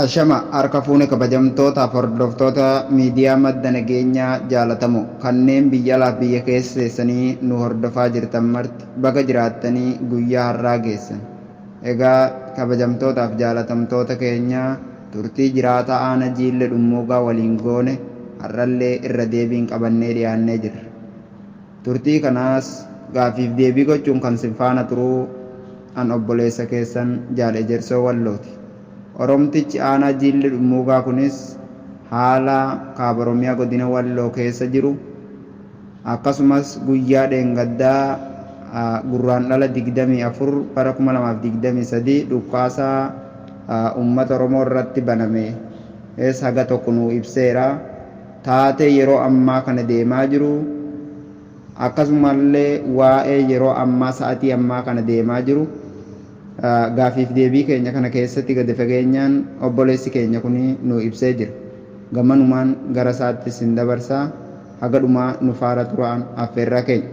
Ashama harka fuune kabajamtoota hordoftoota miidiyaa madda nageenyaa jaalatamoo kanneen biyya alaaf biyya keessa teessanii nu hordofaa jirtan marti baga jiraattanii guyyaa har'aa geessan. Egaa kabajamtootaaf jaalatamtoota keenya turtii jiraataa Aana Jiille Dhummuugaa waliin goone har'allee irra deebiin qabannee dhiyaannee jirra. Turtii kanaas gaaffiif deebii gochuun kan sin faana turuu an obboleessa keessan Jaal Ejersoo Wallooti. Oromtichi Aanaa Jiille Dhummuugaa kunis haala Kaaba Oromiyaa Godina Walloo keessa jiru, Akkasumas guyyaa dheengaddaa Gurraandhala 24 bara 2023 dhukaasa uummata Oromoo irratti banames haga tokko nuu ibseera. Taatee yeroo ammaa kana deemaa jiru, akkasumallee waa'ee yeroo ammaa sa'atii ammaa kana deemaa jiru gaaffiif deebii keenya kana keessatti gadi fageenyaan obboleessi keenya kun nuu ibsee jira. Gamanumaan gara isaatti isin dabarsa. Haga dhumaa nu faara turaa affeerraa keenya.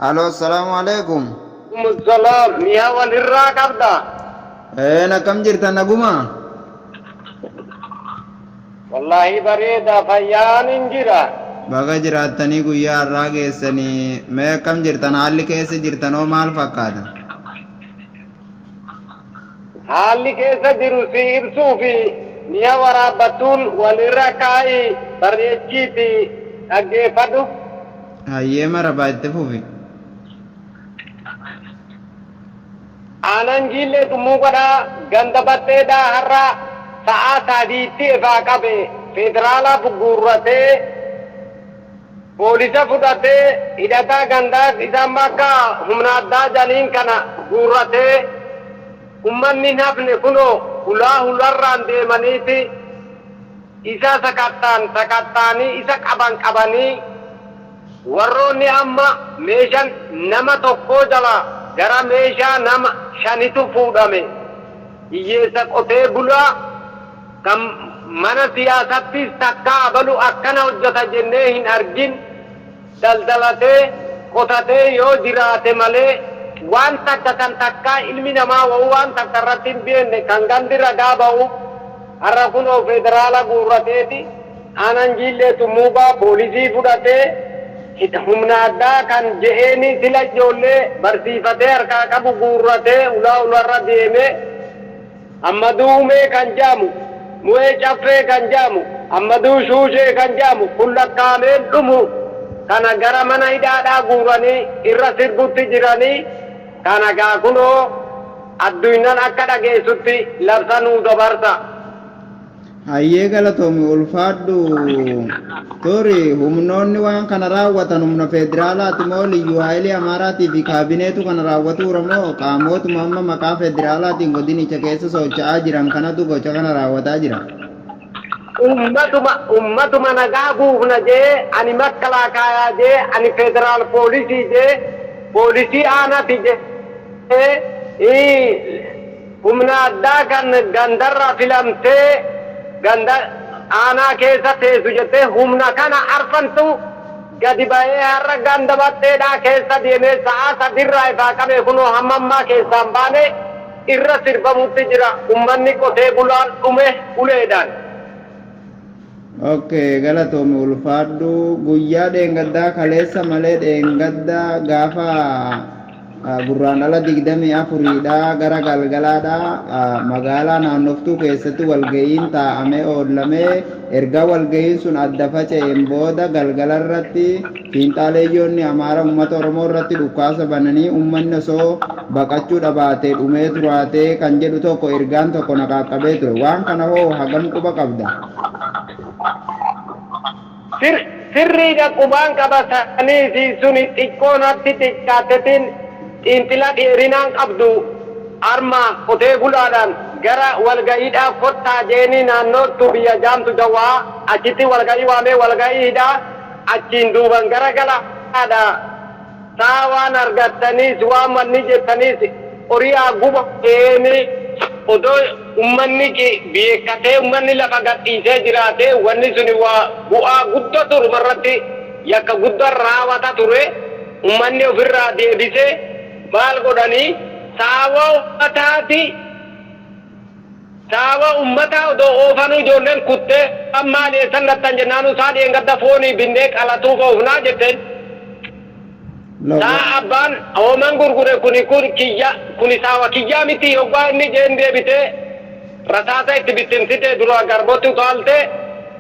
Halo Assalamu Alaikum. Walaikum salaam miyaa wal irraa qabdaa. Een akkam jirta nagumaa. Wallahi bareeda fayyaanin jira. Baga jiraattanii guyyaa har'aa geessanii mee akkam jirtan haalli keessa jirtanoo maal fakkaata? Haalli keessa jiru sii ibsuuf mi'a waraabbattuun wal irra kaa'i barreechiitii dhaggeeffadhu. Hayyee marabaa itti fufi. Aanaan Jiillee Tummuu Godhaa ganda Baxxeedhaa har'a sa'aa 3tti efaa qabe Feederaalaa bugguurratee, Poolisa fudhatee hidhataa gandaas isa amma akka humna addaa janiin kana guurratee ummanni hin hafne kunoo hulaa hularraan deemaniiti isa sakatta'an sakatta'anii isa qaban qabanii warroonni amma meeshan nama tokkoo jalaa gara meeshaa nama shanitu fuudhame hiyyeessa qotee bulaa Kan mana siyaasattis takkaa abalu akkana hojjata jennee hin argin daldalatee, qotatee yoo jiraate malee waan takka kan takkaa ilmi namaa wahuu waan takka irratti hin beenne kan gandi ragaa bahuuf har'a kunoo federaala guurrateeti aanaan Jiillee Tummuubaa poolisii fudhatee hidha humna addaa kan je'eenii sila ijoollee barsiifatee harkaa qabu guurratee ulaa ularra deemee Ammaduu Umee kan ja'amu, Mu'ee Caffee kan ja'amu, Ammaduu Shuushee kan ja'amu kun lakkaa'amee hin dhumu. Kana gara mana hidhaadhaa guuranii irra sirbutti jiranii kana gaa kunoo adduynnan akka dhageessutti labsa nuu dabarsa. Hayyee galatoomi ulfaadhu. Turi humnoonni waan kana raawwatan humna federaalaati moo liyyuu haayilii Amaaraatii fi kaabineetu kana raawwatuura moo qaamootuma amma maqaa federaalaatiin godinicha keessa socho'aa jiran kanatu gocha kana raawwataa jira? Ummatuma ummatuma nagaa buufna jee ani makkalaakaayaa jee ani federaal poolisii jee poolisii aanati jee ii Humna addaa kan gandarra filamtee ganda aanaa keessa teessu jettee humna kana arfantu gadi bahee har'a ganda Baxxeedhaa keessa deemee sa'aa sadiirraa ifaa qabee kunoo hamma ammaa keessaa hin baane irra sirbamutti jira ummanni qotee bulaan dhume uleedhaan. Okay galatoomi ulfaadhu guyyaa dheengaddaa kaleessa malee dheengadda gaafa ah, gurraan dhala digdamii afuriidha gara galgalaadha ah, magaalaa naannoftuu keessatti walga'iin taa'amee oollamee erga walga'iin sun adda faca'een booda galgalarratti Fiinxaaleeyyoonni Amaara ummata Oromoo irratti dhukkaasa bananii ummanni osoo baqachuu dhabaatee dhumee turaatee kan jedhu tokko ergaan tokko na qaaqqabee ture. Waan kana hoo hagam quba qabda? Sirriidha qubaan qaba saniifi suni xiqqoo natti xiqqaattetiin xiinxila dheerinaan qabdu arma qotee bulaadhaan gara walga'iidhaa kottaa je'eenii naannoo Tubiya jaamtu dawwa'a achitti walga'ii waamee walga'ii hidhaa Achiin duuban gara galaadhaa taa waan argattaniis waan manni jettaniis horii haa gubateeni odoo ummanni beekkatee ummanni lafa gad dhiisee jiraatee wanni suni waa bu'aa guddatu dhuma irratti yakka guddan raawata ture ummanni of irraa deebisee maal godhanii saawoo taati Saawwa ummataa odoo oofanuu ijoolleen kuttee, An maali eessan gattan jennaanuu saa dheengadda foonii binnee qalatuuf oofnaa jetteen. Saa abbaan hooman gurgure kuni kun kiyya, kuni saawwa kiyyaa mitii yoggaa inni jeen deebitee rasaasa itti bittimsitee duraa garbatti utaaltee,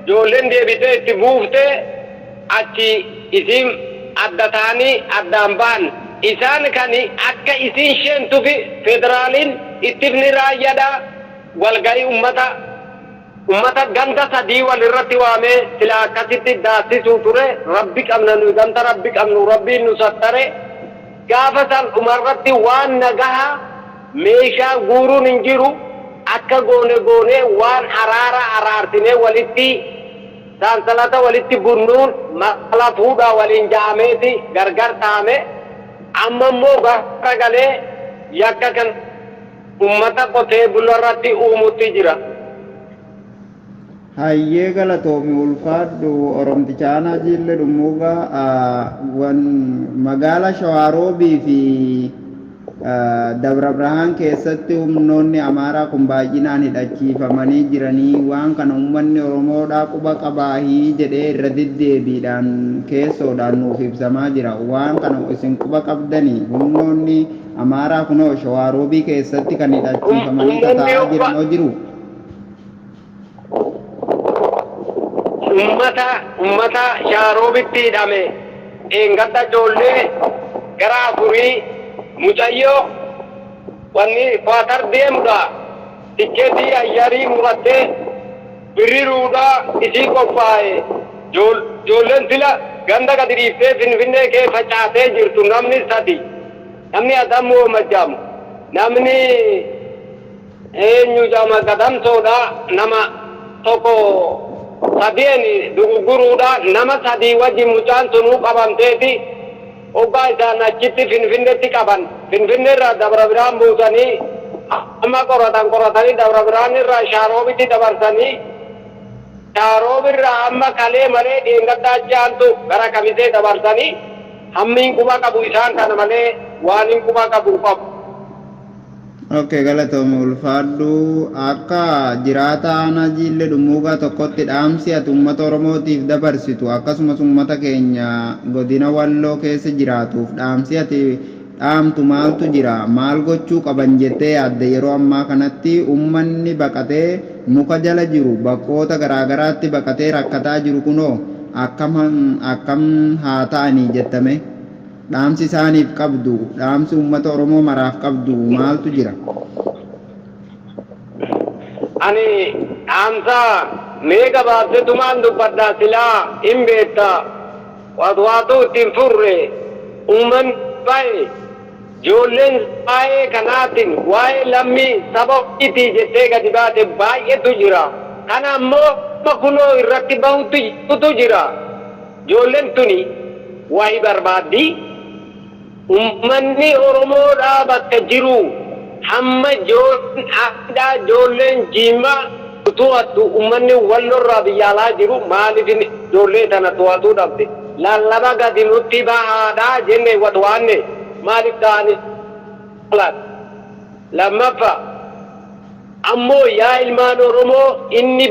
ijoolleen deebitee itti buuftee. Achi isiin adda ta'anii addaan bahan. Isaan kani akka isiin sheentufi federaliin ittifni raayyadha walgahi ummata ummata ganda sadii wal irratti waamee silaa akkasitti daassisu ture rabbi qabna nuyi ganta rabbi qabnu rabbiin nu sattare gaafa san dhumarratti waan nagaha meeshaa guurun hin jiru akka goone goone waan araara araarsinee walitti Sansalata walitti bunnuun mala fuudhaa waliin ja'ameeti gargar dhahame. Amma immoo gara galee yakka kana ummata qotee bularratti uumutti jira. Hayyee galatoomi ulfaadhu oromticha aanaa jiille dhummuugaa wan magaala shawaaroobii fi Dabrabrahaan keessatti humnoonni Amaaraa kun baay'inaan hidhachiifamanii jiranii waan kana uummanni Oromoodhaa quba qabaahii jedhee irra deddeebiidhaan keessoodhaan nuuf ibsamaa jira. Waan kana isin quba qabdanii? Humnoonni Amaaraa kunoo Shawaa Roobii keessatti kan hidhachiifamanii tataa'aa jiranoo jiruu? Ummata ummata shaaroobitti hidhame dheengadda ijoollee gara afurii mucayyo wanni kuwatar deemudha tikketii ayyarii muratte birri ruudha isii qophaaye ijoolleen sila ganda gadi dhiiftee finfinnee kee facaatee jirtu namni sadi namni adam woomajjaamu namni Eenyu jama gatamtoodha nama toko sadien dugugurudha nama sadii wajin mucaan tunu qabamteeti oggaa isaan achitti finfinnetti qaban finfinne irraa dabra biraan buusani hamma qoratan qoratani dabra biraan irraa shaaroobitti dabarsani shaaroob irraa amma kalee malee dheengadda achi aantu gara kamisee dabarsani hammiin quba qabu isaan kana malee waanin quba qabu hin qabu Ok galatoomi ulfaadhu akka jiraata aanaa jiillee dhummuugaa tokkotti dhaamsi ati uummata oromootiif dabarsitu akkasumas uummata keenya godina walloo keessa jiraatuuf dhaamsi ati dhaamtu maaltu jira maal gochuu qaban jettee yaadda yeroo ammaa kanatti uummanni baqatee muka jala jiru bakkoota garaagaraatti baqatee rakkataa jiru kunoo akkam haa ta'anii jettame. Dhaamsi isaaniif qabdu, dhaamsi uummata Oromoo maraaf qabdu maaltu jira? Ani dhaamsa mee gabaabsetumaan dubbadha silaa hin beekta waatwaatuu itti hin furre uummanni baay'ee ijoolleen isaa waa'ee kanaatiin waa'ee lammii saba ofiitii jettee gadi baate baay'eetu jira kana ammoo amma kunoo irratti bahutti jirutu jira. Ijoollen tuni wahi barbaaddi. Ummanni Oromoodhaa bakka jiruu hamma Joon hidhaa ijoolleen Jiimmaa nu tohattu ummanni Wallorraa biyya alaa jiru maalif ijoollee tana tohatuu dhabde lallaba gadi nutti bahaadhaa jenne watwaanne maalif taa'ani laata? Lammaffaa ammoo yaa ilmaan Oromoo inni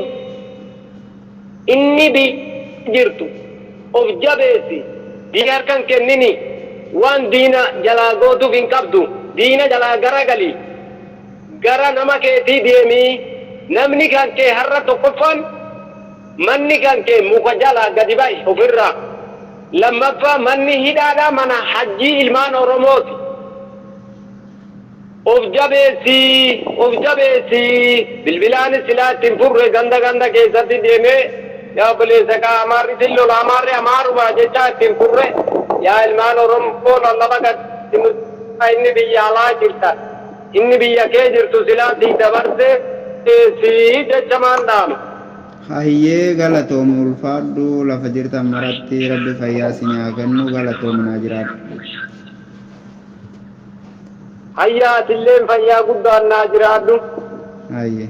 Inni biyya jirtu of jabeessi diina harka hin kennini waan diina jalaa gootuuf hin qabdu diina jalaa garagali gara nama keetii deemi namni kan kee har'a tokkoffaan manni kan kee muka jalaa gadi bahi of irraa lammaffaa manni hidhaadha mana hajjii ilmaan oromooti. Of jabeessi of jabeessi bilbilaanis silaa itti hin furre ganda ganda keessatti deemee yaa obboleessa kaa amaarri sin lola amaarri amaaruma jechaa itti hin furre yaa ilmaan oromoo lallaba gad itti nu dhiisaa inni biyya alaa jirtan inni biyya kee jirtu silaa sii dabarse si jechamaan dhaama. Hayyee galatoomi ulfaadhu lafa jirtan maratti rabbi fayyaa isinii haa kennu galatoomi naa jiraadhu. Hayyaa atilleen fayyaa guddaan naa jiraadhu. Hayyee.